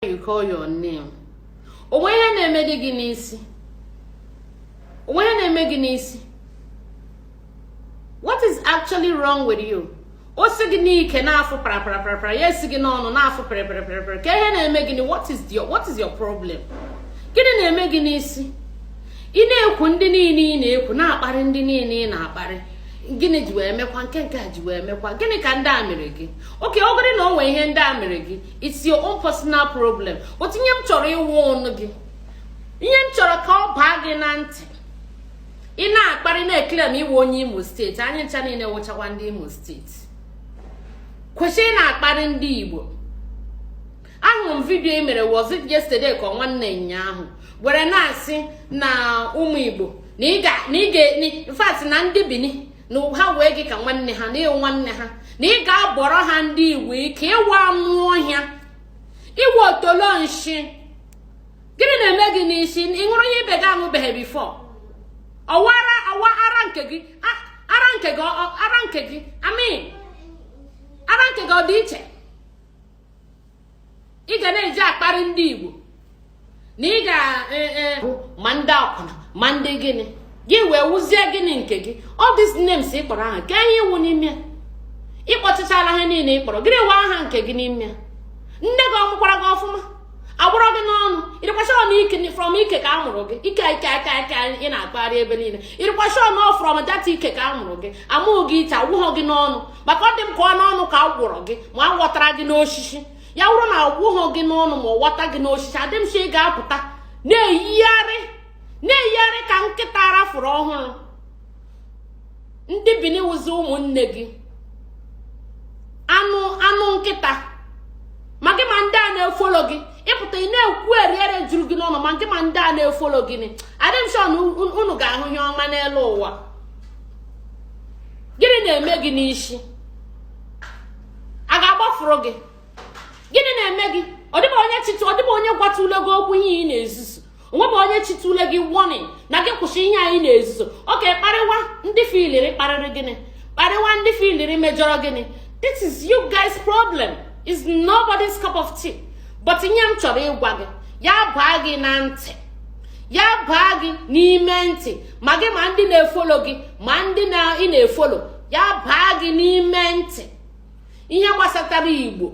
you call your name o nwe ihe na-eme gị n'isi o nwe ihe na-eme gị n'isi what is actually wrong with you o si gị n'ike na-afụ paraparaparapara ya esi gị n'ọnụ na-afụ paraparaparapara kee ihe na-eme gị what is your what is your problem gịnị na-eme gị n'isi ị na-ekwu ndị niile ị na-ekwu na-akparị ndị niile ị na-akparị gịnị ji wee mekwa nke nke e ji wee mekwa gịnị ka ndị a mere gị okay ọ bụrụ na o nwee ihe ndị a mere gị it's your own personal problem but ihe m chọrọ ịwọnụ gị ihe m chọrọ ka ọ baa gị na ntị ị na-akparị na-eklem ị wụ onye imo steeti anyị ncha niile wụchakwa ndị imo steeti kwụsị ịna-akparị ndị igbo ahụrụ m vidiyo i mere was it yesterday ka ọ nwanne ụnyaahụ were na-asị na ụmụ igbo na in fact na ndị bini na ha wee gị ka nwanne ha na ị wụ nwanne ha na ị ga-abọrọ ha ndị igbo ike ị wụ anụ ọhịa ị wụ otolo nshị gịnị na-eme gị n'isi ị ṅụrụ ihe ibe gị aṅụbeghị before ọ wụ ara ọ wụ ara nke gị ara nke gị ara nke gị I mean ara nke gị ọ dị iche ị ga na-eji akparị ndị Igbo na ị ga e, e, ma ndị akwụna ma ndị gịnị gị wee wụzie gịnị nke gị all these names ị kpọrọ aha kee ihe ị wụ n'ime ya ị kpọchichala ha niile ị kpọrọ gịnị wụ aha nke gị n'ime ya nne gị ọ mụkwara gị ọfụma a gbọrọ gị n'ọnụ ị rịkwa sure na ike from ike ka a mụrụ gị ike ike aka aka ị na-akpagharị ebe niile ị rịkwa sure na from that ike ka a mụrụ gị amụghị gị iche agbọghị gị n'ọnụ maka ọ dị m ka ọ n'ọnụ ka a gbọrọ gị ma a ghọtara gị n'osisi ya wụrụ na agbọghị gị n'ọnụ ma a ghọta gị n'osisi adị m sure ị ga-apụta na-eyigharị na-eyigharị ka nkịta ara fụrụ ọhụrụ ndị bini wụzi ụmụnne gị anụ anụ nkịta ma gị ma ndị a na-efolo gị ị pụta ị na-ekwu eriere juru gị n'ọnụ ma gị ma ndị a na-efolo gị adị m sure na unu ga-ahụ ihe ọma n'elu ụwa gịnị na-eme gị n'isi a ga-agbafuru gị gịnị na-eme gị ọ dịbụ onye chịtụ ọ dịbụ onye gwatụle gị okwu ihe ị na-ezuzu o nwebu onye chịtụle gị warning na gị kwụsị ihe a ị na-ezuzu okay kparịwa ndị ị filiri kparịrị gị kparịwa ndị ị filiri mejọrọ gị this is you guys problem it's nobody's cup of tea but ihe m chọrọ ịgwa gị ya baa gị na ntị ya baa gị n'ime ntị ma gị ma ndị na-efolo gị ma ndị na ị na-efolo ya baa gị n'ime ntị ihe gbasatara igbo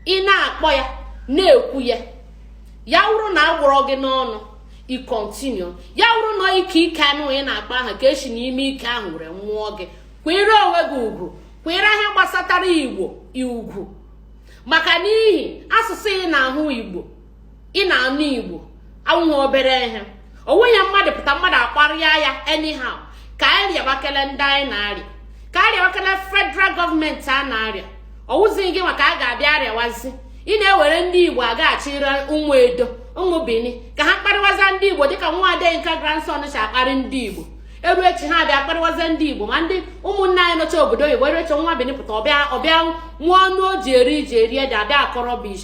ị na-akpọ ya na-ekwu ya ya wụrụ na a gwọrọ gị n'ọnụ ị continue ya wụrụ na ike ike anụ ị na-akpọ aha ka e si n'ime ike ahụ were nwụọ gị kwere onwe gị ugwu kwere ihe gbasatara igbo ugwu maka n'ihi asụsụ ị na-ahụ igbo ị na-anụ igbo awụghị obere ihe ọ wụghị mmadụ pụta mmadụ akparịa ya anyhow ka anyị rịabakele ndị anyị na-arịa ka a rịabakele federal gọọmenti a na-arịa ọ wụzighị gịnwa ka a ga-abịa arịawazi ị na-ewere ndị igbo agaghachi ire ụmụ edo ụmụ bini ka ha kparịwaza ndị igbo dịka nwa adeyinka grandson si akparị ndị igbo eru echi ha abịa kparịwaza ndị igbo ma ndị ụmụnne anyị nọcha obodo oyibo eru echi nwa bini pụta ọ bịa ọ bịa nwa ọnụ o ji eri ji eri ede abịa akọ rubbish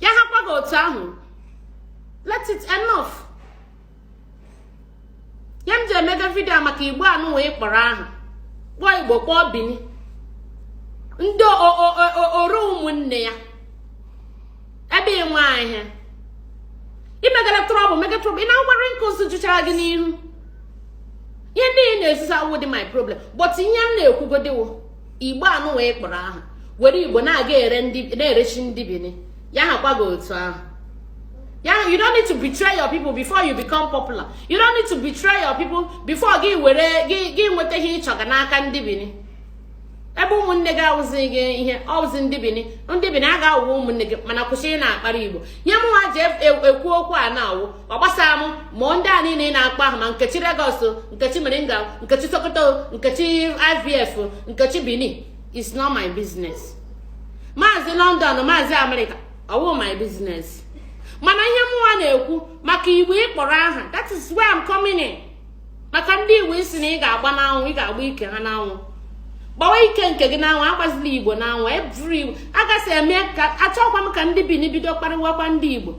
ya hakwa gị otu ahụ let it enough ihe m ji emega vidio a maka igbo anụwa ị kpọrọ aha kpọọ igbo kpọọ bini ndị oro ụmụnne ya ebe ị nwe ahịa i megara trouble mega trouble ị na-agwara nke ụzụ jụchara gị n'ihu ihe ndị ị na-ezuzu awụdị my problem but ihe m na-ekwugodi wụ igbo anụwa ị kpọrọ aha were igbo na-aga na-eresi ndị bini ya hakwa gị otu ahụ ya you don't need to betray your people before you become popular you don't need to betray your people before gị were gị nweta ihe ị chọga n'aka ndị bini ebe ụmụnne gị awụzighị ihe ọ wụzi ndị bini ndị bini ha ga-awụ ụmụnne gị mana kwụsị ịna-akparị igbo ihe mụnwa ji ekwu okwu a na-awụ ọ gbasara m ma ndị a niile ị na-akpọ ahụ ma nkechi Lagos nkechi moringa nkechi sokoto nkechi ivf nkechi bini is not my business maazị london maazị amerịka ọ wụ my business mana ihe mụnwa na-ekwu maka igbo ị kpọrọ aha that is where I'm coming in. maka ndị igbo ị sị na ị ga-agba n'anwụ ị ga-agba ike ha n'anwụ gbawa ike nke gị n'anwụ agbazila igbo n'anwụ eburu igbo agasị eme ka achọkwa m ka ndị bini bido kparịwakwa ndị igbo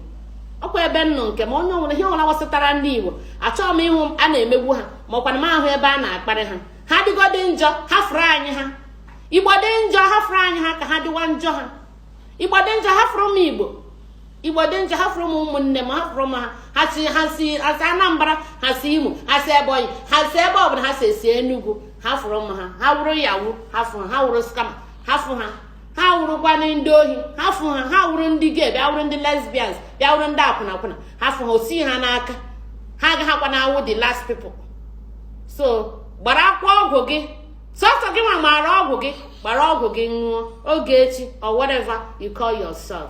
ọkwa ebe nnụ nke ma onye ọ wụrụ ihe ọwụla gbasatara ndị igbo achọghị m ịhụ a na-emegbu ha ma ọkwana m ahụ ebe a na-akparị ha ha dịgodị njọ hafụrụ anyị ha igbo dị njọ hafụrụ anyị ha ka ha dịwa njọ ha igbo dị njọ hafụrụ m igbo igbo dị njọ hafụrụ m ụmụnne m hafụrụ m ha ha si ha si ha si anambra ha si imo ha si ebonyi ha si ebe ọbụla ha si esi enugwu hafụrụ m ha ha wụrụ yahoo hafụ ha wụrụ scammer hafụ ha ha wụrụkwana ndị ohi hafụ ha ha wụrụ ndị gay bịa wụrụ ndị lesbians bịa wụrụ ndị akwụna akwụna hafụ ha o si ha n'aka ha agaghịkwana awụ the last people so gbarakwa ọgwụ gị sọsọ gị nwa maara ọgwụ gị gbara ọgwụ gị ṅụọ ogechi or whatever you call yourself